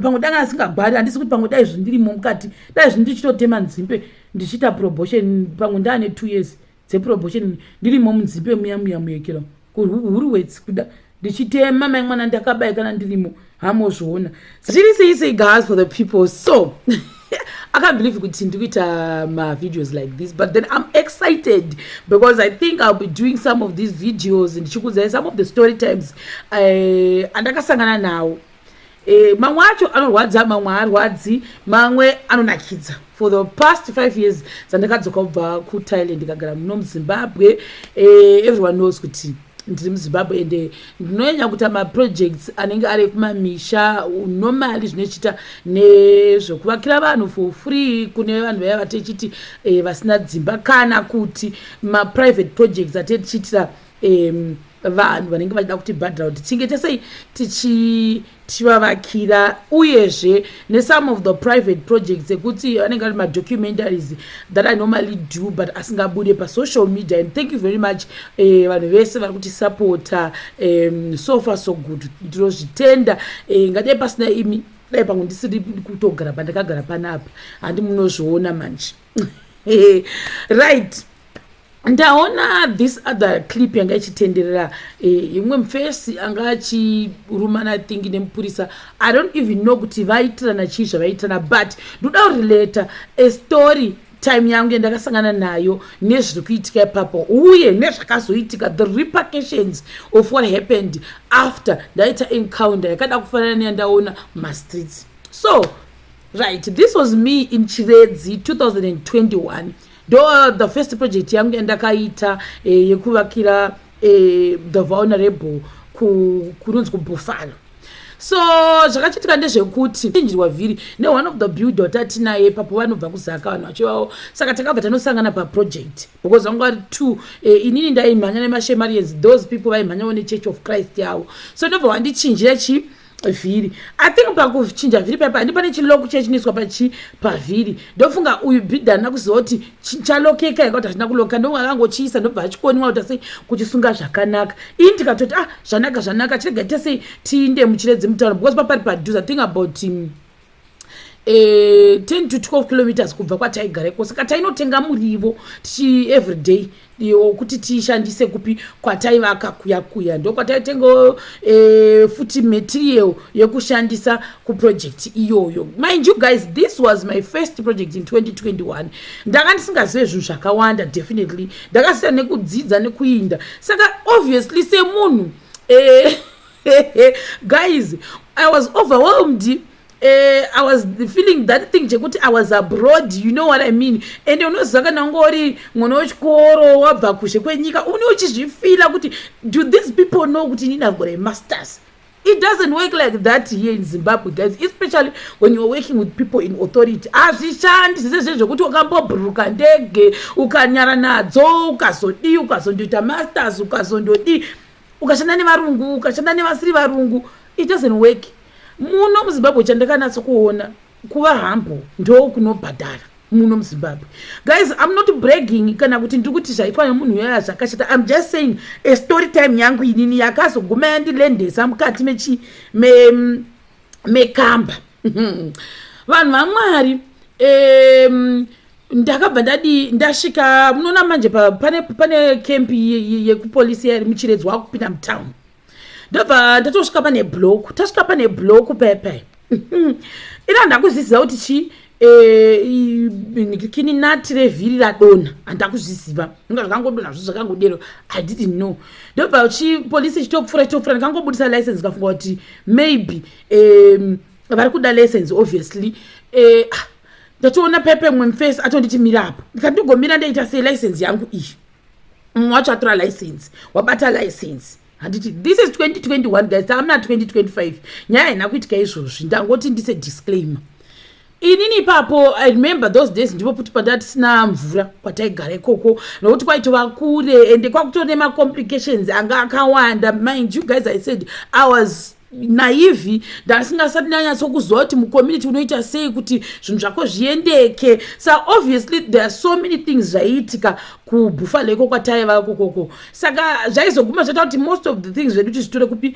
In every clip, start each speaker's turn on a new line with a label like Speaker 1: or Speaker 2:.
Speaker 1: pamwe danga asingagwari handisi kuti pamwe dai zvindirimo mukati dai zvini ndichitotema nzimbe ndichiita probotion pamwe ndaane two years dzeprobotion ndirimo munzimbe muya muya muyekera kuhuru wets kuda ndichitema mai mwana ndakabaye kana ndirimo hamozviona zviri sei sei gas for the people so i can't believe kuti ndikuita uh, mavideos like this but then i'm excited because i think i'll be doing some of these videos ndichikudzai some of the story times eh, andakasangana nawo uh, Eh, mamwe acho anorwadza mamwe haarwadzi mamwe anonakidza for the past five years dzandakadzoka kubva kuthailand ndikagara muno muzimbabwe eh, everyone knows kuti ndiri muzimbabwe ende eh, ndinonyanya kuita maprojects anenge ari ekumamisha normally zvinochiita nezvekuvakira vanhu for free kune vanhu vaya vatechiti vasina dzimba kana kuti maprivate projects atetichiitira um vanhu vanenge vachida kutibhadhira kuti tinge tesei tichivavakira uyezve nesome of the private projects ekuti anenge ari madocumentaries that i normally do but asingabude pasocial media and thank you very much eh, vanhu vese vari kuti supporta um, so far so good ndinozvitenda eh, ngadai pasina imi dai pamwe ndisiri kutogara pandakagara panapa handi munozviona manje right ndaona this other clip yanga ichitenderera eh, imwe mfesi anga achirumana think nemupurisa i don't even know kuti vaitirana chii zvavaitirana but ndoda kurelata a story time yangu yandakasangana nayo nezviri kuitika ipapo uye nezvakazoitika the repercussions of what happened after ndaita encounter yakada kufanana neyandaona mumastreets so right this was me in chiredzi 2021 ndo uh, the first project yangu yandakaita eh, yekuvakira eh, the vulnerable kunonzi kubhufalo so zvakachitika ndezvekuti chinjirwa vhiri ne one of the builder watati naye papo vanobva kuzaka vanhu vachivawo saka takabva tanosangana paproject because vanga vari two eh, inini ndaimhanya nemashemarians those people vaimhanyawo nechurch of christ yavo so ndobva wandichinjira chii vhiri i think pakuchinja vhiri paipa handi pane chiloku chachinoiswa pachi pavhiri ndofunga uyu bhidha andina kuziva kuti chalokeka yanga kuti hazvina kuloka ndonga akangochiisa ndobva achikoniwa kuita sei kuchisunga zvakanaka ini tikatoti ah zvanaka zvanaka chirega ita sei tiinde muchiredzi mutauro because papari padhuze i think about um, eh, 10 to 12 kilometers kubva kwataigara iko saka tainotenga murivo tichi everyday kuti tiishandise kupi kwataivaka kuya kuya ndokwataitenga eh, futi material yekushandisa kuproject iyoyo mind you guys this was my first project in 2021 ndanga ndisingazive zvinhu zvakawanda definitely ndakasiyana nekudzidza nekuinda saka obviously semunhu eh, guys i was overwhelmed Uh, i was feeling that thing chekuti i was abroad you know what i mean and unoziva kana unge uri mwana wechikoro wabva kuzhe kwenyika une uchizvifila kuti do these people know kuti inini i've got a masters it doesn't work like that here in zimbabwe guys especially when youare working with people in authority hazvishandi zvese zve zvekuti ukambobhuruka ndege ukanyara nadzo ukazodii ukazondoita masters ukazondodii ukashanda nevarungu ukashanda nevasiri varungu it doesn't work muno muzimbabwe chandakanatso kuona kuva hambo ndo kunobhadhara muno muzimbabwe guys im not bragging kana kuti ndiri kuti zvaitwa nemunhu uyaya zvakashata im just saying a story time yangu inini yakazoguma yandilendesa mukati mechi me, mekamba vanhu vamwari um, ndakabva ndadi ndasvika munoona manje pane, pane kempi yekupolisi ye, ye muchiredzwa wakupinda mutown ndobva ndatosvika pane bloku tasvika pane bloku pepe ina ndakuziziva kuti chii Eh, kini nati revhiri radonha handida kuzviziva inga zvakangodonha zvo zvakangodero i didn't know ndobva chipolisi chitopfuura chitopfuura ndikangobudisa license ndikafunga kuti maybe um, vari kuda license obviously eh, ah, ndatoona uh, pepe mwe mface atonditi mira apo ndikandigomira ndaita sei license yangu iyi mumwe wacho atora license wabata license handiti this is 2021 guys tamna 2025 nyaya haina kuitika izvozvi ndangoti ndise disclaimer inini ipapo i remember those days ndipo kuti pandatisina mvura kwataigara ikoko nokuti kwaitova kure ende kwakutone macomplications anga akawanda mind you guys i said i was naivi ndasingasati ndanyatsokuziva kuti mucommunity unoita sei kuti zvinhu zvako zviendeke sa obviously there are so many things zvaiitika kubhufalo iko kwataiva kokoko saka zvaizoguma zvaita kuti most of the things zvedu tizvitore kupi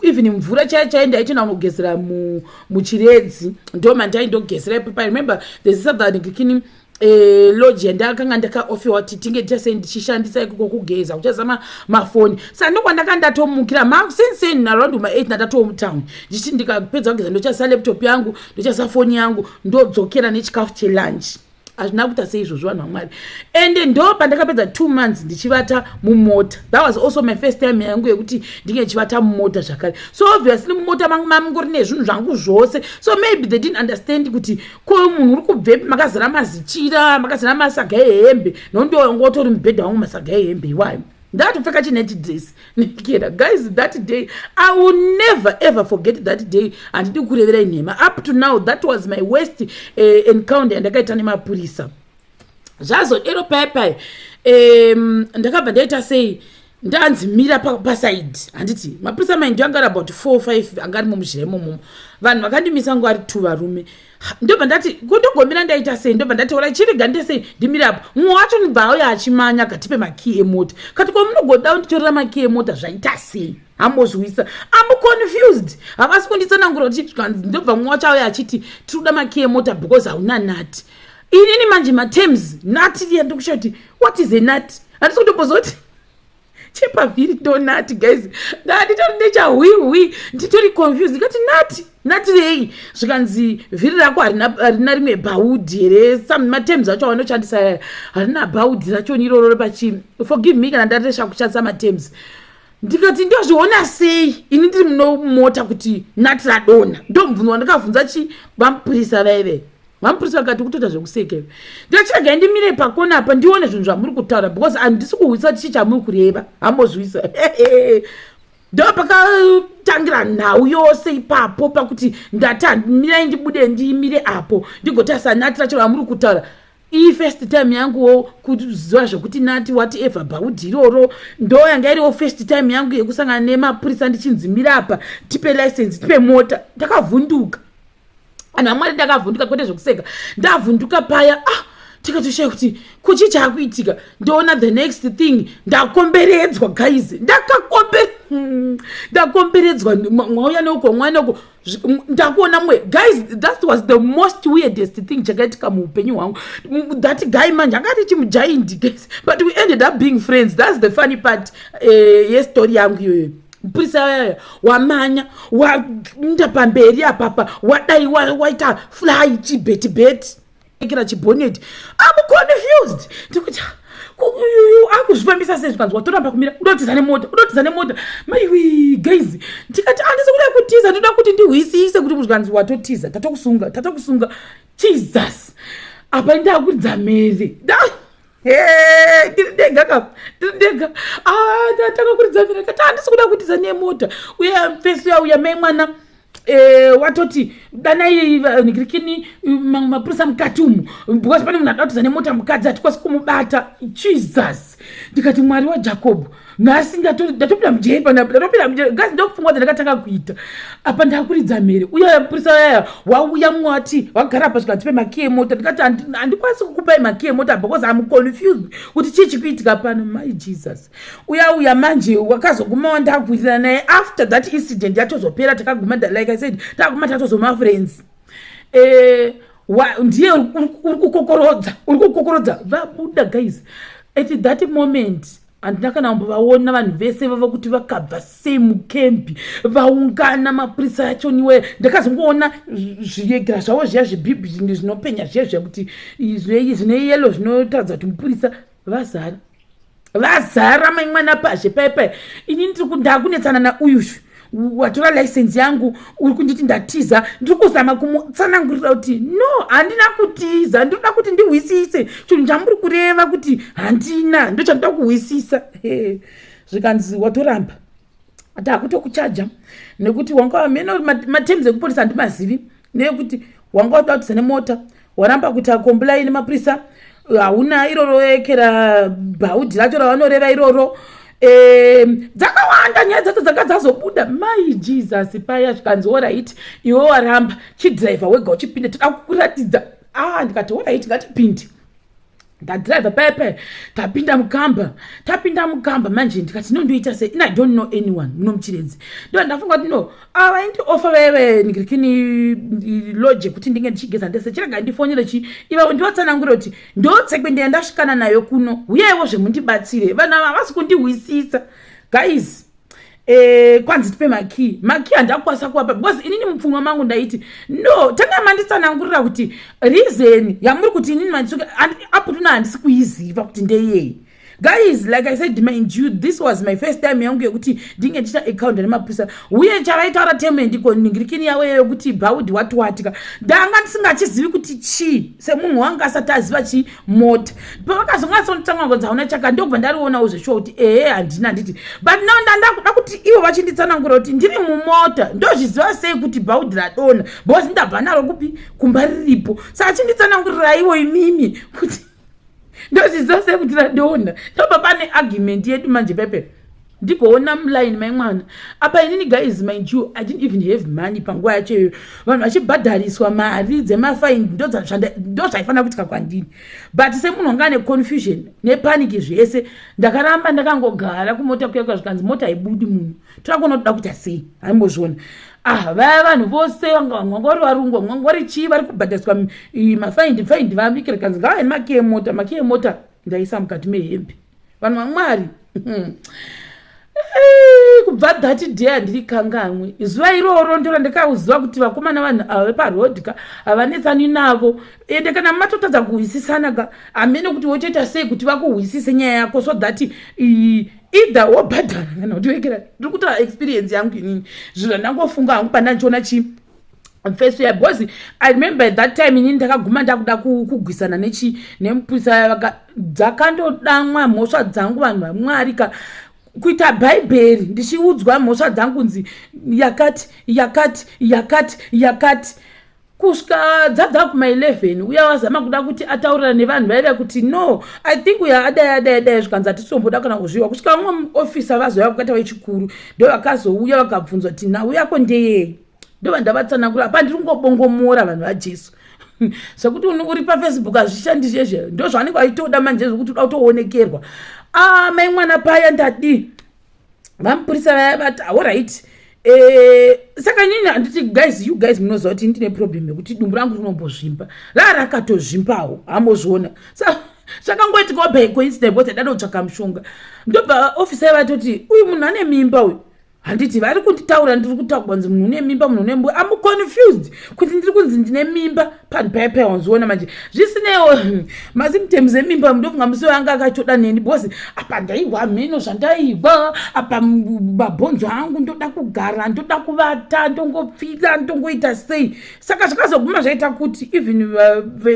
Speaker 1: even mvura chaiyo chaiyo ndaitoenda kunogezera muchiredzi ndo mandaindogezera ipapai remember there's southern kikini eh, lodge yandakanga ndakaofewa kuti tinge tichase ndichishandisa ikoko kugeza kuchazama mafoni sa ndokwandaka ndatomukira ma since in around ma 8 ndatatomutown ndichiti ndikapedza kugeza ndochasa laptop yangu ndochasa foni yangu ndodzokera nechikafu chelunch hazvina kuita seizvozvo vanhu vamwari ende ndo pandakapedza two months ndichivata mumota that was also my first time yangu yekuti ndinge ndichivata mumota zvakare so obviously mumota mangu mamungori nezvinhu zvangu zvose so maybe they didn't understand kuti ko uyu munhu uri kubvepi makazara mazichira makazara masaga ehembe nokuti wanga watori mubhedha wangu masaga ehembe iwayo ndakatopfeka chineti dress nekera guys that day i will never ever forget that day handidi kureverai nhema up to now that was my worst uh, encounter yandakaita nemapurisa zvazodero paya paya um, ndakabva ndaita sei ndanzi mira pasaidi pa handiti mapurisa maindi anga ari about four five anga ari mumuzhira imomomo vanhu vakandimisa ngo ari two varume ndobva ndati kundogomira ndaita sei ndobva ndati orai chirega ndite sei ndimire apo mumwe wacho ndibva auya achimanya kati pemakii emota kati kwa munogodawo nditorera makii emota zvaita sei ambozvisa amuconfused havasi kunditsanangura kuti ndobva mumwe wacho auya achiti tiri kuda makii emota because hauna nati inini manje matems nati ndiya ndikushaa kuti what is a nati handisi kutomboziva kuti chepavhiri ndonati guys ndanditori nechahwihwi nditori confused ndikati nati nati rei zvikanzi vhiri rako harina rimwe bhaudhi here some matems acho awanoshandisa harina bhaudhi racho niroro repachi forgive me kana ndaresha kushandisa matems ndikati ndozviona sei ini ndiri munomota kuti nati radona ndomubvunzwa ndikabvunza chi vamupurisa vaive Mampurisa akati kutoita zvekuseka iwe. Ndachega ndimire pakona apa ndione zvinhu zvamuri kutaura because handisi kuhwisa tichi chamuri kureva. Hambozvisa. Ndo pakatangira nhau yose ipapo pakuti ndati handimirai ndibude ndimire apo ndigotarisa nati racho ramuri kutaura iyi first time yanguwo kuziva zvekuti nati what ever bhaudhi iroro ndo yanga iriwo first time yangu yekusangana nemapurisa ndichinzimira apa tipe license tipe mota ndakavhunduka anhu amwari ndakavhunduka kwete zvekuseka ndavhunduka paya ah tikatoshaya kuti kuchi chaakuitika ndoona the next thing ndakomberedzwa guys ndakakombe hmm, ndakomberedzwa mwauya neuko mwana uko ndakuona mwe guys that was the most weirdest thing chakaitika muupenyu hwangu that guy manje akati chimujaindi guys but we ended up being friends that's the funny part uh, yestory yangu iyoyo mupurisa uyaya wamanya wainda pamberi apapa wadai waita fly chibeti beti ekera chiboneti am confused ndikuti akuzvifambisa sei zvikanzi watoramba kumira udotiza nemota udotiza nemota maiwi gaizi ndikati andisi kuda kutiza ndoda kuti ndihwisise kuti muzvikanzi watotiza tatokusunga tatokusunga jesus apa ndakuridza mhere tiri ndega ka tiri ndega ah, takakuridza mira kati handisi kuda kutiza nemota uye fesi yauya mai mwana eh, watoti danai nigirikini mamwe mapurisa mukati umu because pane munhu adatiza nemota mukadzi hatikwanisi kumubata jesus ndikati mwari wajakobho nhasi ndatopinda mujeri pandatopinda mujeri gazi ndokufunga kuti ndakatanga kuita apa ndakuridza mhere uya purisa yaya wauya mumwe wati wagara pa zvikati pemaki emota ndikati handikwanisi kukupai maki emota because am confused kuti chii chikuitika pano mai jesus uya uya manje wakazoguma wandakuitira naye after that incident yatozopera takaguma like i said takaguma tatozoma friends eh, ndiye uri kukokorodza uri kukokorodza vabuda guys at that moment handina kana kumbovaona vanhu vese vava kuti vakabva sei mukembi vaungana mapurisa yachoniwe ndakazongoona zviyegera zvavo zviya zvibhibhi zvinge zvinopenya zviya zviya kuti zvine yelo zvinotaridza kuti mupurisa vazara vazara mai mwana pazhe paipai ini ndiri kundakunetsana nauyu watora license yangu uri kunditi ndatiza ndiri kuzama kumutsanangurira kuti no handina kutiza ndinoda kuti ndihwisise chinhu chamuri kureva kuti handina ndo chandida kuhwisisa zvikanzi watoramba ati hakutokuchaja nekuti wanga wamene materms ekuporisa handimazivi neyekuti wanga watoda kutiza nemota waramba kuti akombulaini mapurisa hauna iroro ekera bhaudhi racho ravanoreva iroro dzakawanda nyaya dzacho dzanga dzazobuda mai jesus paya zvikanzi orit iwe waramba chidriver wega uchipinde toda kukuratidza a ah, ndikati orit ngatipinde ndadriver paye paye tapinda mukamba tapinda mukamba manje ndikati no ndoita sei in i don't know anyone muno muchiredzi ndo ndafunga kuti no avaindiofa ah, veve ndikirikini loje kuti ndinge ndichigeza ndese chirega ndifonere chi ivavo ndivatsanangure kuti ndotsekwe ndiya ndasvikana nayo kuno huyaiwo zvemundibatsire vanhu ava havasi kundihwisisa guys Eh, kwanzi tipe makey makey handakwanisa kuwapa because inini mupfungwa mangu ndaiti no tanga manditsanangurira kuti reason yamuri kuti inini manditsuke aputuna handisi kuiziva kuti ndeyei guys like i said mind you this was my first time yangu yekuti ndinge ndichita account nemapurisa uye chavaitaura teme ndiko nhingirikini yavo iyo yokuti bhaudhi watiwatika ndanga ndisingachizivi kuti chii semunhu wanga asati aziva chii mota pavakazongatsonotanga ngonzi hauna chaka ndokubva ndarionawo zveshuwa kuti ehe handina handiti but now ndandakuda kuti ivo vachinditsanangura kuti ndiri mumota ndozviziva sei kuti bhaudhi radona bhozi ndabva naro kupi kumba riripo sa achinditsanangurirayiwo imimi kuti ndozviziva sei kuti radona ndobva pane argument yedu manje pepe ndigoona muline mai mwana apa inini guys mind you i didn't even have money panguva yacho iyoyo vanhu vachibhadhariswa mari dzemafaini ndo zvaifanira kuitika kwandini but semunhu wanga ane confusion nepaniki zvese ndakaramba ndakangogara kumota kuyakwa zvikanzi mota haibudi munhu torakuona kuda kuita sei haimbozviona ah vaya vanhu vose vangangori varungu vangangori chii vari kubhadhariswa mafaini faini vabikira kanzi ngava nemakee mota makee mota ndaisa mukati mehembe vanhu vamwari hmm. kubva that day handiri kangamwe zuva iroro ndiro ndikauziva kuti vakomana vanhu ava veparoad ka havanetsani navo ende kana matotadza kuhwisisana ka hamene kuti wotoita sei kuti vakuhwisise nyaya yako so that either wobhadhara kana kuti wekera ndiri kutaura experience yangu inini zvinhu ndangofunga hangu pandandichiona chii mfeso ya because i remember at that time inini ndakaguma ndakuda kugwisana nechi nemupurisa dzakandodamwa mhosva dzangu vanhu vamwari ka kuita bhaibheri ndichiudzwa mhosva dzangu kunzi yakati yakati yakati yakati kusvika dzabva kuma 11 uya wazama kuda kuti ataurira nevanhu vaive kuti no i think uya adai adai adai zvikanzi hatisomboda kana kuzviwa kusvika vamwe muofisa vazouya vakataura chikuru ndo vakazouya vakabvunzwa kuti nhau yako ndeyei ndova ndavatsanangura apa ndiri kungobongomora vanhu vajesu zvekuti uri pafacebook hazvishandi zvezve ndo zvavanenge vaitoda manje zvekuti uda kutoonekerwa ah, mai mwana paya ndadii vamupurisa vaya vati aoright eh, saka nyini handiti guys you guys munoziva kuti ndine problem yekuti dumbu rangu rinombozvimba raa rakatozvimbawo hamozviona zvakangoitikawo by coincident bcause dada kutsvaka mushonga ndobva ofisa yavatoti uyu munhu ane mimba uyu handiti vari kunditaura ndiri kutaura kunzi munhu une mimba munhu une mbuya am confused kuti ndiri kunzi ndine mimba panhu paya paya wanziona manje zvisinewo masimtems emimba ndofunga musi wanga akachoda neni because apa ndaihwa hameno zvandaihwa apa mabhonzo angu ndoda kugara ndoda kuvata ndongopfila ndongoita sei saka zvakazoguma zvaita kuti even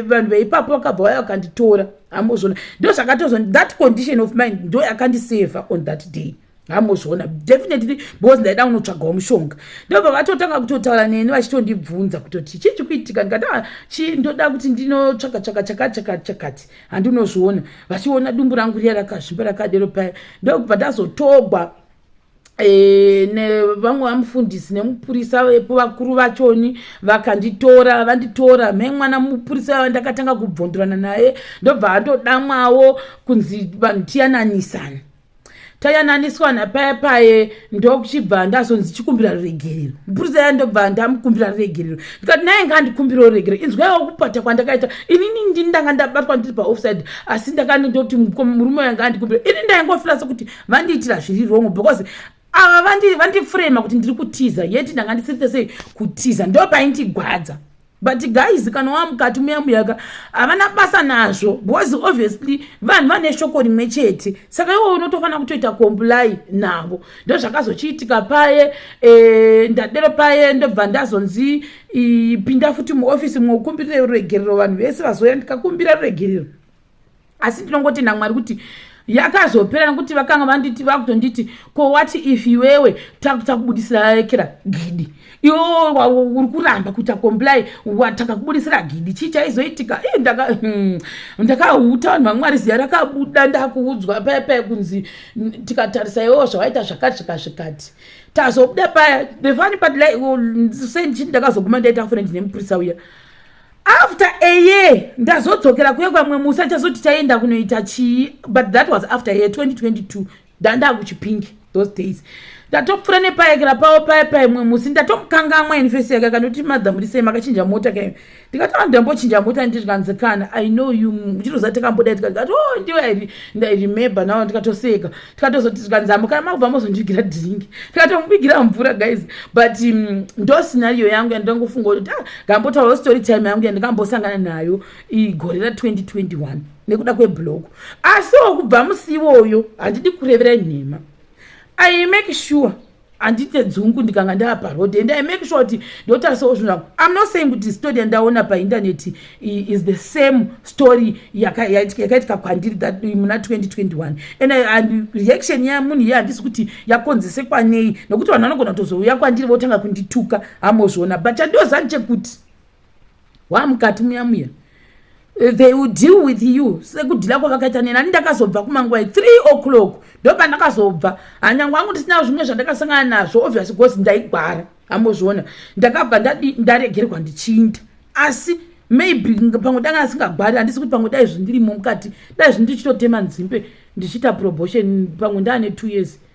Speaker 1: vanhu veipapo vakabva vaya vakanditora ambozvona ndo zvakatozon that condition of mind ndo yakandiseva on that day so hamozviona definitely because ndaida kunotsvagawo mushonga ndobva vatotanga kutotaura neni vachitondibvunza kutoti chii chikuitika ndikati ah, chii ndoda kuti ndinotsvaga tsvaga chakachakachakati handinozviona vachiona dumbu rangu riya rakazvimba rakadero paya ndokubva ndazotogwa e, nevamwe vamufundisi nemupurisa vepo vakuru vachoni vakanditora vanditora me mwana mupurisa ava ndakatanga kubvondorana naye ndobva atodamwawo kunzi vanhu tiyananisana tayananiswa napaye paye ndokuchibva ndazonzi chikumbira ruregerero mupurisa ya ndobva ndamukumbira ruregerero ndikati naye ngandikumbira ruregerero inzwaiwo kupata kwandakaita inini ndini ndanga ndabatwa ndiri paoffside asi ndakanendoti murume wanga andikumbira ini ndaingofira sekuti vandiitira zviri wrong because ava vandifrema kuti ndiri kutiza yeti ndanga ndisirite sei kutiza ndopaindigwadza but guys kana wamukati muya muyaka havana basa nazvo because obviously vanhu vane shoko rimwe chete saka iwo unotofanira kutoita comply navo ndo zvakazochiitika paye e, ndadero paye ndobva ndazonzi pinda futi muofisi mwokumbirira ruregerero vanhu vese vazoya ndikakumbira ruregerero asi ndinongoti namwari kuti yakazopera nekuti vakanga vanditi vakutonditi ko wati if iwewe takubudisira rekera gidi iwe uri kuramba kuita comply watakakubudisira gidi chii chaizoitika i hmm, ndakauta vanhu vamwari ziya rakabuda ndakuudzwa paya paya kunzi tikatarisa iwewo zvawaita zvakati zvikazvikati tazobuda paya the fun part like oh, sei ndichiti ndakazoguma ndaita fune ndine mupurisa uya after a year ndazodzokera kuye kwamwe musi achazoti chaenda kunoita chii but that was after a year 2022 ndandaa kuchipingi those days ndatopfura nepaekera pavo paye paimwe musi ndatomukangamwa infesi yake akanoti madhamurisei makachinja mota kayo ndikatova ndambochinja mota ndirikanzi kana i know you chirozati kamboda tikati oh ndiwe ndairemember navo ndikatoseka tikatozoti zvikanzi amukana makubva mozondivigira dringi tikatomuvigira mvura guys but um, ndo scenario yangu yandingangofunga kuti ah, ngambotaurawo story time yangu yandingambosangana nayo igore ra 2021 nekuda kweblog asiwo kubva musi iwoyo handidi kurevera nhema i make sure handite dzungu ndikanga ndava paroad and i make sure kuti ndotarisawo zvinhu zvangu im not saying kuti story yandaona paintaneti is the same story yakaitika kwandiri muna 2021 and reaction yamunhu iye handisi kuti yakonzese kwanei nokuti vanhu vanogona kutozouya kwandiri votanga kundituka hamozviona but chandozani chekuti wamukati muya muya they will deal with you sekudhila kwavakaita neni ani ndakazobva kumangwai three o'clock ndopandakazobva hanyangu angu ndisina zvimwe zvandakasangana nazvo obvious bcause ndaigwara amozviona ndakabva ndaregerwa ndichinda asi maybe pamwe danga asingagwari handisi kuti pamwe dai zvindirimo mukati dai zvindichitotema nzimbe ndichiita probotion pamwe ndaane two years